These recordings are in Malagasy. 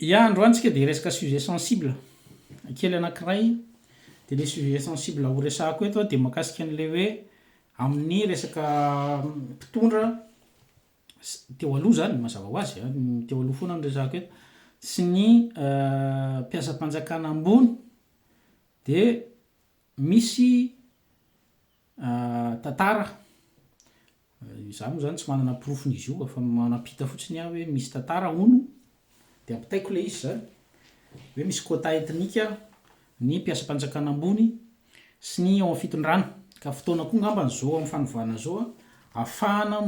Ya androany tsika dia hiresaka sujet sensible kely anakiray dia le sujet sensible ho resahako eto dia makasika anle hoe amin'ny resaka mpitondra teo aloha zany mazava ho azy an teo aloha foana no resahako eto sy ny mpiasam-panjakana ambony dia misy Tantara, izaho moa izany tsy manana porofon'izy io fa manampita fotsiny aho hoe misy tantara hono dia ampitaiko ilay izy izany hoe misy quota ethnique ny mpiasam-panjakana ambony sy ny ao amin'ny fitondrana ka fotoana koa angamba izao amin'ny fanovana izao ahafahana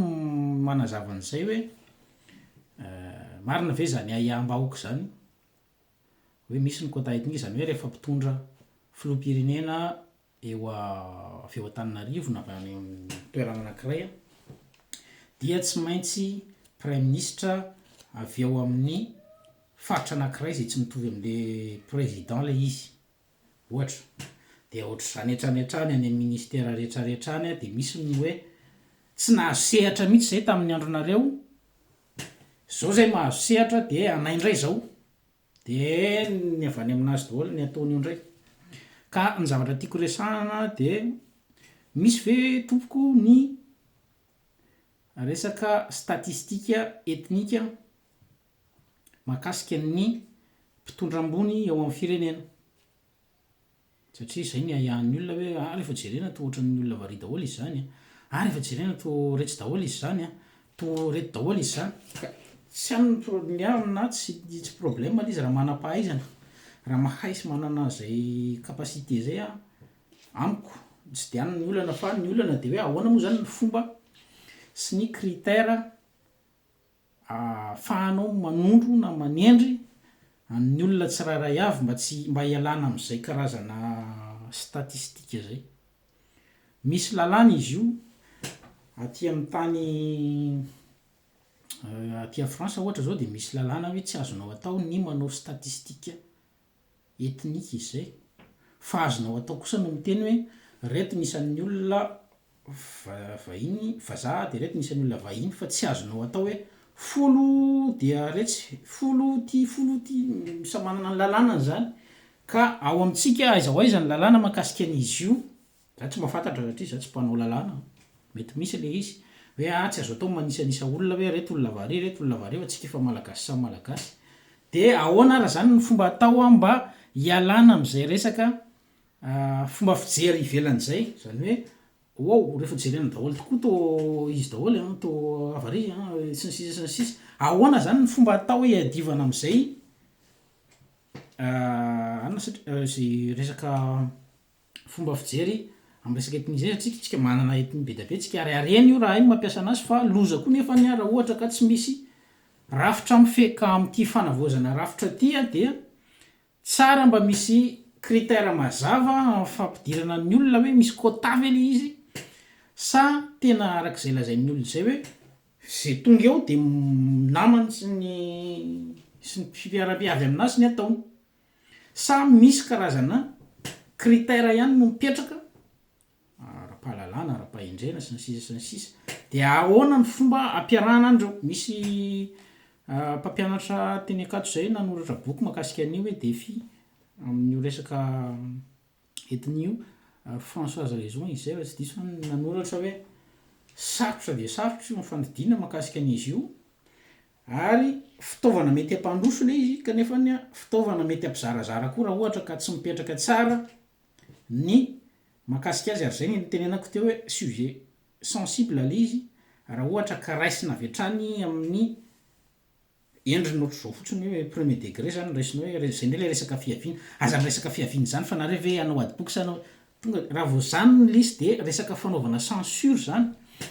manazava an'izay hoe marina ve izany ahiaham-bahoaka izany hoe misy ny quota ethnique izany hoe rehefa mpitondra filoham-pirenena eo avy eo Antananarivo na avy any amin'ny toerana anankiray dia tsy maintsy praiminisitra avy ao amin'ny faritra anankiray izay tsy mitovy amin'ilay président ilay izy, ohatra. Dia ohatr'izany hatrany hatrany any amin'ny ministère rehetra rehetra any dia misy ny hoe tsy nahazo sehatra mihitsy izay tamin'ny andronareo, izao izay mahazo sehatra dia anay indray izao. Dia ny avy any amin'azy daholo ny ataony eo indray. Ka ny zavatra tiako resahana dia misy ve tompoko ny resaka statistika etnika mahakasika ny mpitondra ambony eo amin'ny firenena? Satria izay ny ahiahin'ny olona hoe ah rehefa jerena toa ohatran'ny olona variana daholo izy izany an! ah rehefa jerena toa retsy daholo izy izany an! toa reto daholo izy izany! ka tsy aminy ny pro ny aminy na tsy tsy problème ilay izy raha manam-pahaizana raha mahay sy manana izay capacité izay an! amiko tsy dia any ny olana fa ny olana dia hoe ahoana moa izany ny fomba sy ny critère Ahafahanao manondro na manendry an'ny olona tsirairay avy mba tsy mba hialana amin'izay karazana statistika izay. Misy lalàna izy io aty amin'ny tany aty à France ohatra izao dia misy lalàna hoe tsy azonao atao ny manao statistika ethnique izay. Fa azonao atao kosa no miteny hoe reto ny isan'ny olona vahiny, vazaha, dia reto ny isan'ny olona vahiny fa tsy azonao atao hoe folo dia retsy, folo ty, folo ty, samy manana ny lalànany izany ka ao amintsika aiza ho aiza ny lalàna mahakasika an'izy io Za tsy mba fantatra satria za tsy mpanao lalàna, mety misy le izy hoe ah tsy azo atao ny manisanisa olona hoe reto olona avy ary reto olona avy ary fa tsika efa malagasy samy malagasy de ahoana ary zany ny fomba atao an mba hialana amzay resaka fomba fijery ivelany zay zany hoe waou refa jerena daholo tokoa to izy daholo an to avy ary an sy ny sisa sy ny sisa ahoana zany ny fomba atao hiadivana amzay anona satria ze resaka fomba fijery amin'ny resaka ethnie zay satria tsika manana ethnie be dia be tsika ary harena io raha hay ny mampiasa anazy fa loza koa nefa ny raha ohatra ka tsy misy rafitra mifehy ka amin'ity fanavaozana rafitra ity dia tsara mba misy critère mazava amin'ny fampidirana ny olona hoe misy quota ve le izy sa tena arak'izay lazain'ny olona izay hoe ze tonga eo dia namany sy ny sy ny fiarabe avy aminazy ny ataony Sa misy karazana critère ihany no mipetraka, ara-pahalalana, ara-pahendrena, sy ny sisa sy ny sisa. Dia ahoana ny fomba ampiarahana any ireo? Misy mpampianatra teny Ankatso izay nanoratra boky makasika an'io hoe Défi amin'io resaka ethnie io, ry Françoise Raison izy izay raha tsy diso an, nanoratra hoe sarotra dia sarotra io ny fandidiana makasika an'izy io, Ary fitaovana mety hampandroso ilay izy kanefa fitaovana mety hampizarazara koa raha ohatra ka tsy mipetraka tsara ny mahakasika azy ary izay no nitenenako teo hoe sujet sensible ilay izy raha ohatra ka raisina avy hatrany amin'ny endriny ohatr'izao fotsiny hoe premier degré izany no raisina hoe izay indray ilay resaka fihaviana, aza miresaka fihaviana izany fa nareo ve hanao adiboky sa hanao tonga dia raha vao izany no lisy dia resaka fanaovana censure izany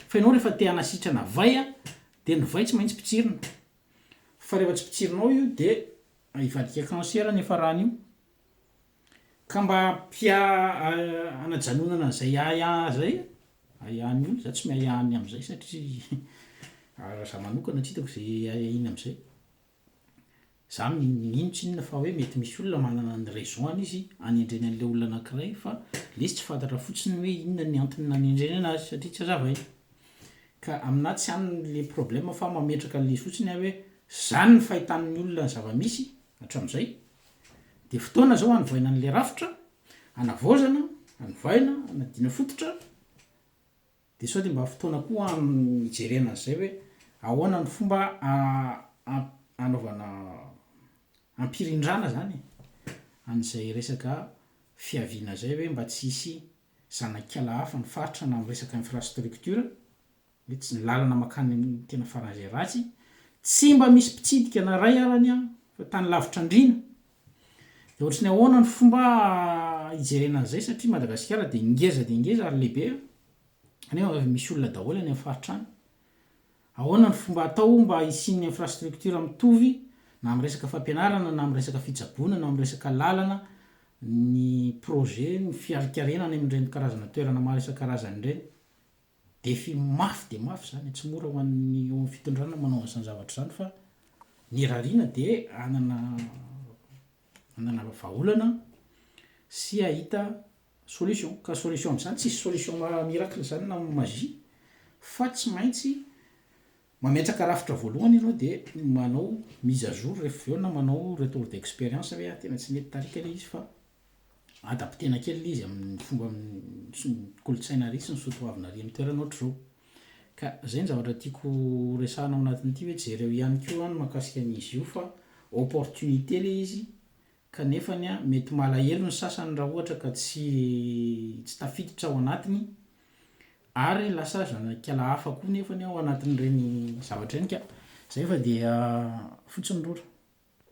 fa ianao rehefa te hanasitrana vay a Dia ny vay tsy maintsy potsirina. Fa rehefa tsy potsirinao io dia hivadika cancer ny efarany io. Ka mba ampia hanajanonana an'izay ahiahy izay ahiahin'ny olona, za tsy miahiahy ny amin'izay satria raha za manokana tsy hitako izay ahiahina amin'izay. Za mino tsinona fa hoe mety misy olona manana ny raison-ny izy anendreny an'ilay olona anankiray fa lesy tsy fantatra fotsiny ny hoe inona ny antony nanendreny anazy satria tsy azavaina. Ka aminà tsy any ilay problème fa mametraka an'ilay izy fotsiny aho hoe zany ny fahitan'ny olona ny zava-misy hatramin'izay dia fotoana zao hanovaina an'ilay rafitra, hanavaozana, hanovaina, hanadiana fototra, Dia sao dia mba fotoana koa hijerena an'izay hoe ahoana ny fomba hanaovana hampirindrana izany e, an'izay resaka fiaviana izay hoe mba tsy hisy zanak'ala hafa ny faritra na amin'ny resaka infrastructure, hoe tsy ny lalana mankany amin'ny tena faran'izay ratsy, tsy mba misy mpitsidika na iray ara ny an, fa tany lavitra andriana Dia ohatry ny ahoana ny fomba hijerena an'izay satria Madagasikara dia ngeza dia ngeza ary lehibe nefa misy olona daholo any amin'ny faritra any. Ahoana ny fomba atao mba hisian'ny infrastructure mitovy na amin'ny resaka fampianarana na amin'ny resaka fitsaboana na amin'ny resaka lalana ny projet ny fiarikarena any amin'ireny karazana toerana maro isan-karazany ireny. Défi mafy dia mafy izany, tsy mora ho an'ny eo amin'ny fitondrana ny manao an'izany zavatra izany fa ny rarina dia hanana hanana vahaolana sy hahita solution. Ka solution amin'izany, tsisy solution miracle izany na magie fa tsy maintsy mametraka rafitra voalohany ianao dia manao mise à jour rehefa avy eo na manao retour d'expérience hoe ah tena tsy nety tarika ilay izy fa adaptena kely ilay izy amin'ny fomba sy ny kolontsaina ary sy ny soa toavina ary amin'ny toerana ohatr'izao. Ka izay ny zavatra tiako horesahana ao anatin'ity hoe jereo ihany koa ny mahakasika an'izy io fa opportunité ilay izy kanefa mety malahelo ny sasany raha ohatra ka tsy tsy tafiditra ao anatiny ary lasa zanakala hafa koa nefany ao anatin'ireny zavatra ireny ka izay fa dia fotsiny rora.